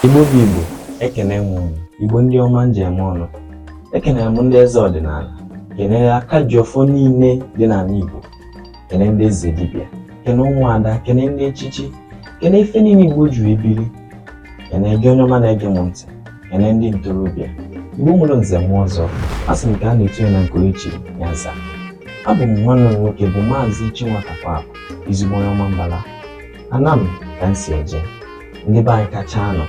Igbo bụ Igbo ekene m unu Igbo ndị ọma m ji eme ọnụ ekenere m ndị eze ọdịnala kenere aka ji ọfọ niile dị n'ala Igbo kene ndị eze dibịa kene ụmụada kene ndị echichi kene ife niile Igbo ji ebiri kene gị onye ọma na-ege m ntị kene ndị ntorobịa Igbo nwere nze nwee ọzọ a sị m ka a na-etinye na Nkoechi Nyansa abụ m nwanne unu nwoke bụ Maazị Chinwatakweakụ Ezigbo onye Ọmambala Anam ka m si eje ndị be anyị kacha anọ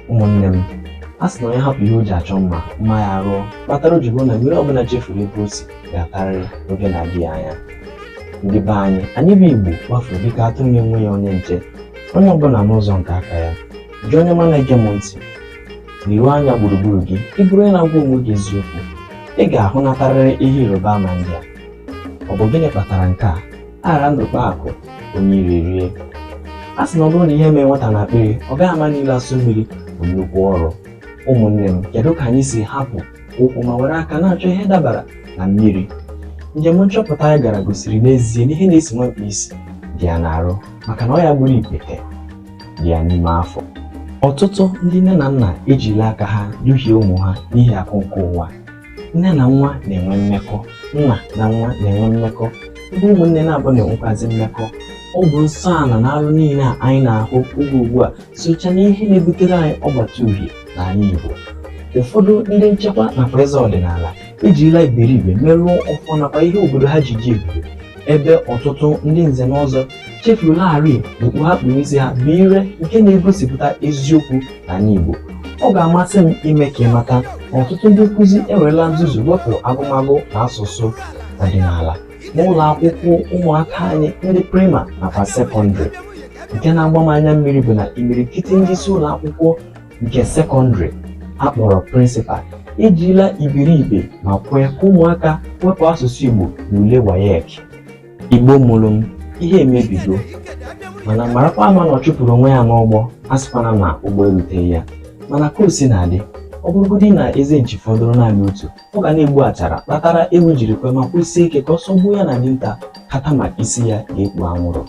ụmụnne m a sị na onye hapụ ihe o ji achọ mma mma ya rụọ kpatara o ji bụ na mmiri ọbụla chefuru ebe o si ga-atarịrị n'oge na-adịghị anya ndị be anyị anyị bụ igbo gbafuru dịka atụrụ na-enweghị onye nche onye ọbụla n'ụzọ nke aka ya gị onye ọma na-ege m ntị leruo anya gburugburu gị ị bụrụ onye na-agwa onwe gị eziokwu ị ga-ahụnatarịrị ihe ịrịba ama ndị a ọ bụ gịnị kpatara nke a aghara ndụ kpaa akụ onye iro erie a sị na ọ bụrụ na ihe emeghị nwata n'akpịrị ọ gaghị ama na ilo asọ mmiri bụ nnukwu ọrụ ụmụnne m kedu ka anyị si hapụ ụkwụ ma were aka na-achọ ihe dabara na mmiri njem nchọpụta anyị gara gosiri n'ezie na ihe na-esi nwa mkpi isi dị ya n'arụ maka na ọya gburu ikpete dị ya n'ime afọ ọtụtụ ndị nne na nna ejila aka ha duhie ụmụ ha n'ihi akụ nke ụwa nne na nwa na-enwe mmekọ nna na nwa na-enwe mmekọ ndị ụmụnne naabọ na-enwekwazi mmekọ ọ bụ nsọ ala na arụ niile a anyị na-ahụ oge ugbu a socha na ihe na-ebutere anyị ọgbata uhie n'ala Igbo ụfọdụ ndị nchekwa nakwa eze ọdịnala ejirila iberibe merụọ ọfọ nakwa ihe obodo ha ji ji ebube ebe ọtụtụ ndị nze na ọzọ chefularị na okpu ha kpu n'isi ha bụ ire nke na-egosipụta eziokwu n'ala Igbo ọ ga-amasị m ime ka ị mata na ọtụtụ ndị nkụzi enwerela nzuzu wepụ agụmagụ na asụsụ ọdịnala n'ụlọ akwụkwọ ụmụaka anyị ndị prima nakwa sekọndịrị nke na-agba m anya mmiri bụ na imirikiti ndị isi ụlọ akwụkwọ nke sekọndịrị a kpọrọ prịnsịpal ejila iberibe ma kwee ka ụmụaka wepụ asụsụ Igbo n'ule WAEC Igbo mụrụ m ihe emebigo mana marakwa ama na ọchụpụrụ onwe ya n'ụgbọ asịkwana na ụgbọ eruteghị ya mana ka o sina dị ọ bụrụgodị na eze nchi fọdụrụ naanị otu ọ ga na-egbu achara kpatara enwe jiri kwuo ma kwusie ike ka ọsọ gbuo ya na dinta kama isi ya ga-ekpu anwụrụ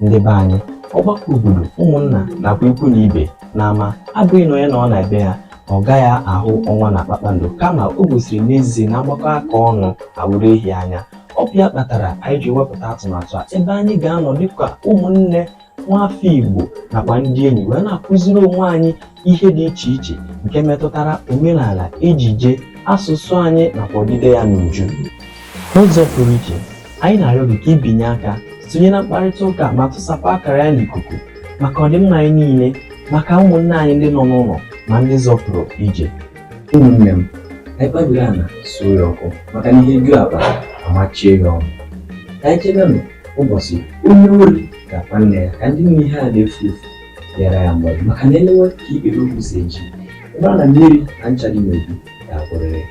ndị be anyị ọgbakọ obodo ụmụnna nakwa ikwu na ibe n'ama abụghị na onye nọọ na be ya ọ gaghị ahụ ọnwa na kpakpando kama o gosiri n'ezie na a gbakọọ aka ọnụ awụrụ ehi anya ọ bụ ya kpatara anyị ji wepụta atụmatụ a ebe anyị ga-anọ dịka ụmụnne nwafọ Igbo nakwa ndị enyi wee na-akụziri onwe anyị ihe dị iche iche nke metụtara omenala ejije asụsụ anyị nakwa odide ya n'uju n'ụzọ pụrụ iche anyị na-arịọ gị ka i binye aka sonye na mkparịta ụka ma tụsapụ akara ya n'ikuku maka ọdịmma anyị niile maka ụmụnne anyị ndị nọ n'ụlọ ma ndị zọpụrụ ije ụmụnne m anyị kpabiri ana suo ya ọkụ maka na ihe ju akpa a machie ya ọnụ ka anyị chebenụ ụbọchị onye ori ga-akpa nne ya ka ndị nne ihe a na-efu efu nyere ya mgbaji maka na e lewe ka ikpere okwu si eji ebe a na mmiri na ncha dị n'obi ga-akpụrịrị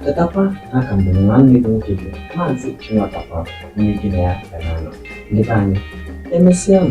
chetakwa na a ka m bụ nwanne gị nwoke bụ maazị chinwatakwa onye gị na ya ga na-anọ ndị be anyị emesịa m